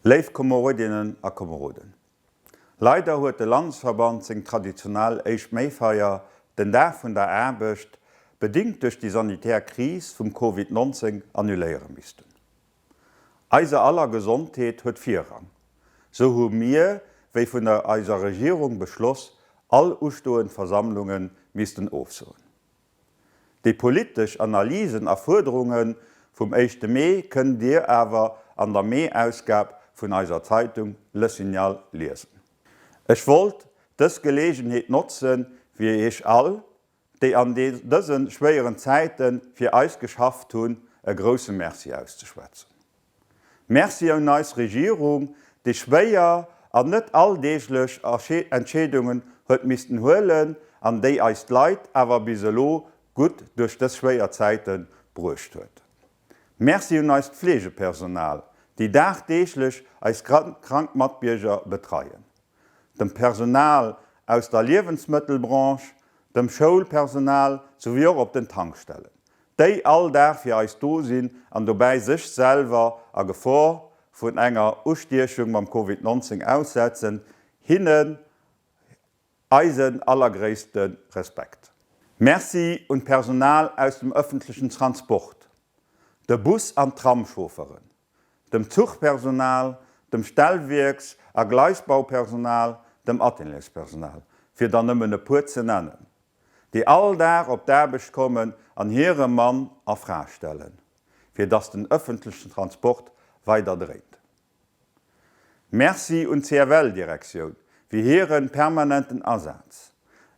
Léif Komerodinnen a Komeroden, Leider huet de Landesverband seng traditionell éischt Méifeier, den Dag vun der Aarbecht, bedingt duerch déi sanitär Kris vum Covid 19 annuléiere missten. Eiser aller Gesondheet huet Virrang. Sou hu mir, wéi vun der eiser Regierung beschloss, all ustoend Versammlunge missten ofsoen. Déi politesch Analysen a Fuerderunge vum éischte Mee kënnt Dir awer an der Mee-Ausgab vun eiser Zeitung Le Signal liesen. Ech wollt dës Geleegenheet notzen, fir Iech all, déi an dëse schwéieren Zäite fir eis geschafft hunn, e grousse Merci auszeschwätzen. Merci un eis Regierung, déi schwéier an net alldeeglech Entscheedungen huet missten huelen an déi eis Leit awer bis elo gutt duerch dës schwéier Zäite bruecht huet. Merci un eist Fleegepersonal, déi dagdeeglech eis krank Matbierger betreien. dem Personal aus der Liewensmëttelbranche, dem Schoulpersonal souwéi och op den Tankstellen, déi all Dag fir eis do sinn an dobäi sech selwer a Gefor vun enger Ustiechung mam Covid 19 aussetzen, hinnen eisen allergréisste Respekt. Merci un d'Personal aus dem ëffentlechen Transport, de Bus an d'Tramchaufferen, dem Zuchpersonal, dem Stellwierks a Gleisbaupersonal, dem Ateliers-Personal, fir der nëmmen e puer ze nennen, déi all Dag op d'Aarbecht kommen an hire Mann a Fra stellen, fir dass den ëffentlechen Transport weider dréint. Merci un d'CFL-Direktioun fir hire permanenten Asaz.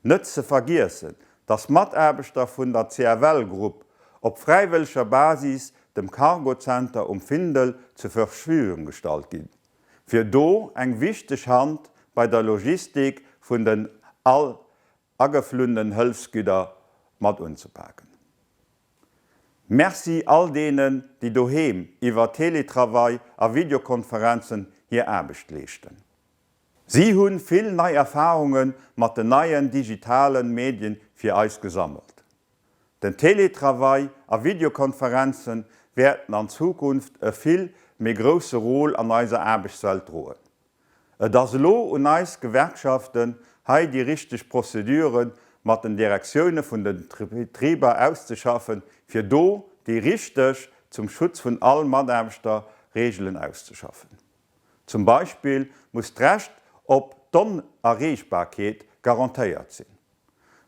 Net ze vergiessen, dass Mataarbechter vun der CFL Group op fräiwëlleger Basis dem Cargo Center um Findel zur Verfügung gestallt ginn, fir do eng wichteg Hand bei der Logistik vun den all ageflunnen Hëlfsgüder mat unzepaken. Merci all deenen, déi doheem iwwer Teletravail a Videokonferenzen hir Aarbecht leeschten. Si hunn vill nei Erfahrungen mat den neien digitalen Medien fir eis gesammelt. Den Teletravail a Videokonferenzen wäerten an Zukunft e vill méi grousse Rôle an eiser Aarbechtswelt droen. Et ass elo un eis Gewerkschaften hei déi richteg Prozeduren mat den Direktiounen vun den Betriber auszeschaffen fir do déi richteg, zum Schutz vun all Mataarbechter, Regelen auszeschaffen. Zum Beispill muss d'Recht op d'Onerreechbarkeet garantéiert sinn.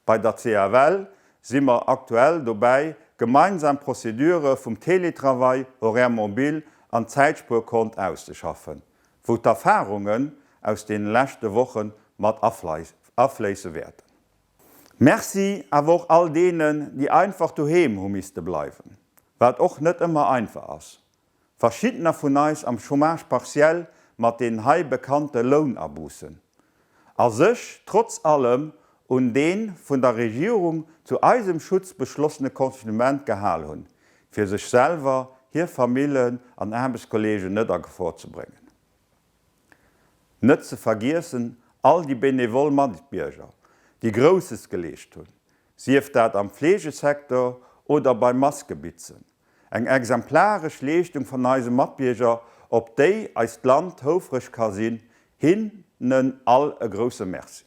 Bei der CFL si mer aktuell dobäi, gemeinsam Prozedure vum Teletravail, Horaires mobiles an Zäitspuerkont auszeschaffen, wou d'Erfarungen aus deene leschte Woche mat afléisse wäerten. Merci awer och all deenen, déi einfach doheem hu misste bleiwen, wat och net ëmmer einfach ass, verschiddener vun eis am Chômage partiel mat den hei bekannte Lounaboussen, a sech trotz allem un dee vun der Regierung zu eisem Schutz beschlossene Confinement gehal hunn, fir sech selwer, hir Famillen an Aarbechtskolleegen net a Gefor ze bréngen. Net ze vergiessen all déi benevol Matbierger, déi Grousses geleescht hunn, sief dat am Fleegesektor oder beim Maskebitzen. Eng exemplaresch Leeschtung van eise Matbierger, op déi eist Land houfreg ka sinn. Hinnen all e grousse Merci.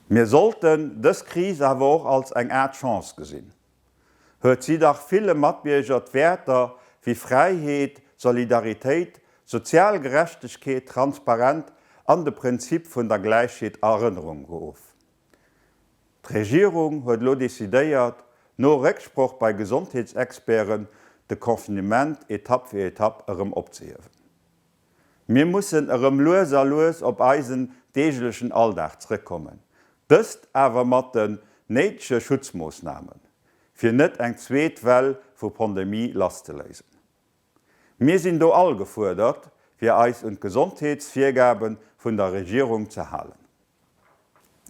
Mir sollten dës Kris awer och als eng Aart Chance gesinn. Huet si dach ville Matbierger d'Wäerter wéi Fräiheet, Solidaritéit, sozial Gerechtegkeet, Transparent an de Prinzip vun der Gläichheet a Erënnerung geruff. D'Regierung huet elo decidéiert, no Récksproch bei Gesondheetsexperten, de Confinement Etapp fir Etapp erëm opzehiewen. Mir mussen erëm lues a lues op eisen deeglechen Alldag zrëckkommen, dëst awer mat den néidege Schutzmoossnamen, fir net eng zweet Well vu Pandemie lasszeléisen. Mir sinn do all gefuerdert, fir eis un d'Gesondheetsvirgabe vun der Regierung ze halen.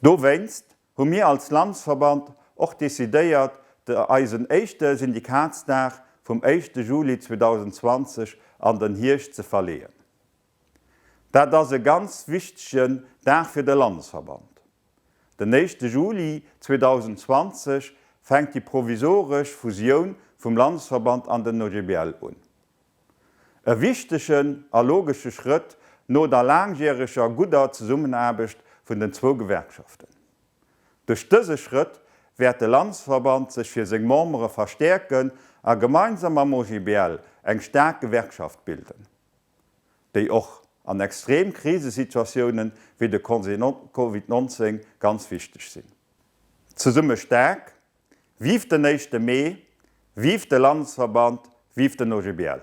Dowéinst hu mir als Landesverband och decidéiert, de eisen éischte Syndikatsdag vum éischte Juli 2020 an den Hierscht ze verleeën. Dat ass e ganz wichtegen Dag fir de Landesverband. Den éischte Juli 2020 fänkt déi provisoresch Fusioun vum Landesverband an den OGBL un. E wichtegen a logesche Schrëtt no der laangjäreger gudder Zesummenaarbecht vun den zwou Gewerkschaften. Duerch dëse Schrëtt wäert de Landesverband sech fir seng Membere verstäerken a gemeinsam mam OGBL eng staark Gewerkschaft bilden. déi och an extrem Krisesituatiounen, wéi de Covid 19, ganz wichteg sinn. Zesumme staark! Vive den éischte Mee! Vive de Landesverband! Vive den OGBL!